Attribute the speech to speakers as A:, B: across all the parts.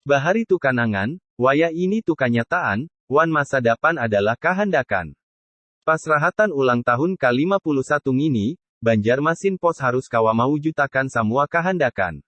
A: Bahari tu kanangan, wayah ini tu kanyataan, wan masa dapan adalah kahandakan. Pas rahatan ulang tahun ka lima puluh satu ngini, Banjarmasin Post harus kawa mawujutakan samua kahandakan.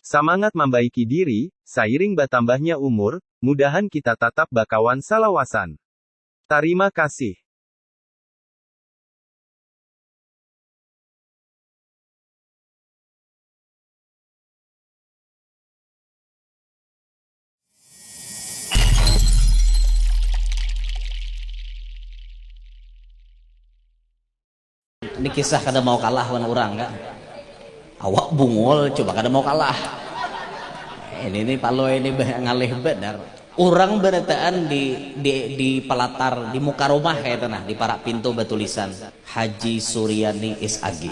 A: Samangat mambaiki diri, sairing batambahnya umur, mudahan kita tatap bakawan salawasan. Tarima kasih.
B: Ini kisah kada mau kalah wan orang kan. Awak bungul coba kada mau kalah. Ini nih palo ini ngalih benar. Orang berataan di, di, di pelatar di muka rumah kayak itu nah di parak pintu batulisan Haji Suryani is agi.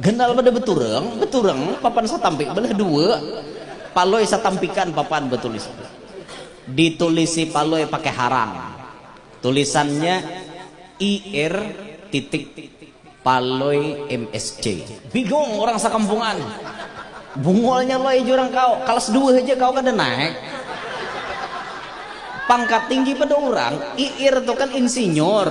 B: Ganal pada beturang, beturang, papan satampik belah dua, Palui satampikan papan betulis. Ditulisi Palui pakai harang. Tulisannya IR titik Palui MSC. Bingung urang sakampungan. Bungolnya Lui jurang kau, kalas dua haja kau kada naik. Pangkat tinggi pada urang, IR tu kan insinyur.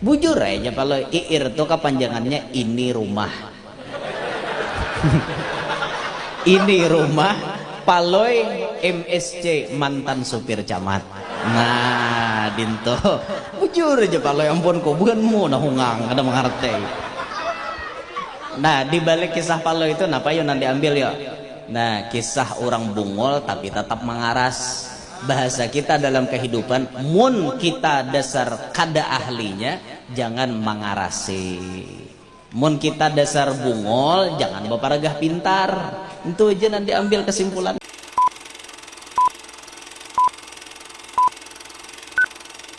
B: Bujur ai ja kalo iir tu kapanjangannya ini rumah. Ini rumah Palui msc mantan supir camat. Nah dintu. Bujur ja Palui ampun ku buhan mu nah hungang kada mangartai. Nah dibalik kisah Palui tu napa yu nang diambil yu? Nah kisah urang bungul tapi tatap mangaras. Bahasa kita dalam kahidupan mun kita dasar kada ahlinya jangan mangarasi. Mun kita dasar bungol jangan baparagah pintar. Ntu aja nang diambil kasimpulannya.